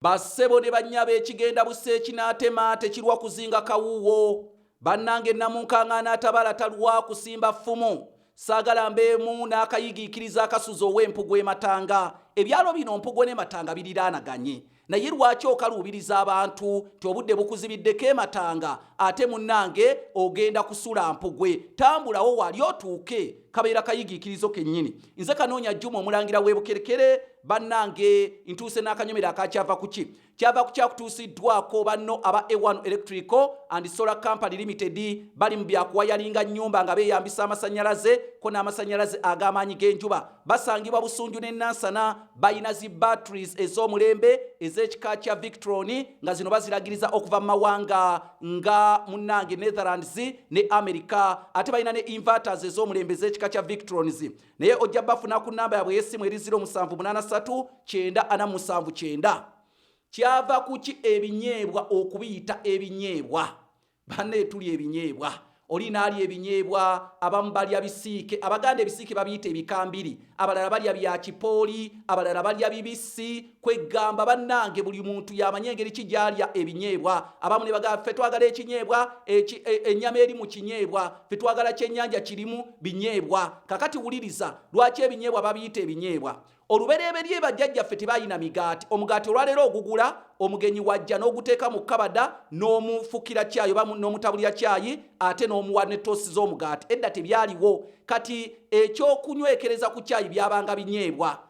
Ba ssebo ne bannyabo ekigenda bussa ekinaatema tekirwa kuzinga kawuuwo. Bannange Nnamunkang'aana atabaala talwa kusimba ffumu. Saagala mbeemu n'akayigiikiriza akasuza ow'empugu e Matanga. Ebyalo bino Mpugo ne Matanga biriraanaganye naye lwaki okaluubiriza abantu nti obudde bukuzibiddeko e Matanga ate munnange ogenda kusula Mpugwe. Tambulawo wali otuuke. Kabeera kayigiikirizo kennyini. Nze Kanoonya Juma Omulangira w'e Bukerekere Bannange ntuuse n'akanyomero aka kyava ku ki? Kyava ku kyakutuusiddwako banno aba A1 Electrical and Solar Company Limited bali mu bya kuwayalinga nnyumba nga beeyambisa amasannyalaze ko n'amasannyalaze ag'amaanyi g'enjuba. Basangibwa Busunju ne Nansana. Balina zi batteries ez'omulembe ez'ekika kya Victron nga zino baziragiriza okuva mu mawanga nga munnange Netherlands ne America. Ate balina ne inverters ez'omulembe ez'ekika kya Victrons. naye ojja bafuna ku namba yabwe ey'essimu eri 07839479 kyava kuki ebinyeebwa okubiyita ebinyeebwa banna etuli ebinyeebwa oli naalya ebinyeebwa abamu balya bisiike abaganda ebisiike babiyita ebikambiri abalala balya bya kipooli abalala balya bibisi Kweggamba bannange buli muntu y'amanyi engeri ki gy'alya ebinyeebwa. Abamu ne bagamba, ffe twagala ekinyeebwa, eki, e, ennyama eri mu kinyeebwa, ffe twagala kyennyanja kirimu binyeebwa. Kakati wuliriza, lwaki ebinyeebwa babiyita ebinyeebwa? Olubereberye bajjajjaffe tebalina migaati. Omugaati olwaleero ogugula, omugenyi wajja n'oguteeka mu kabada n'omufukira kyayi oba n'omutabulira kyayi ate n'omuwa ne toosi z'omugaati. Edda tebyaliwo. Kati ekyokunywekereza ku kyayi byabanga binyeebwa.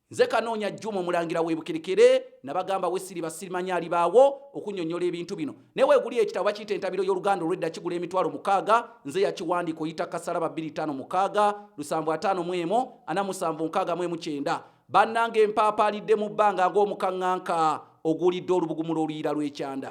Nze Kanoonya Juma omulangira w'ebukerekere nabagamba wesiriba sirimanya alibaawo okunyonyola ebintu bino naye weguli ekitabo bakiyita entabiro y'oluganda olwedda kigula emitwalo mukaaga nze yakiwandiika oyita kasalaba 25 mukaaga lusanvu ataano mu emu ana musanvu nkaaga mu emu kyenda bannanga empaapaalidde mu bbanga ng'omukaŋŋanka oguulidde olubugumu lw'oluyiira lw'ekyanda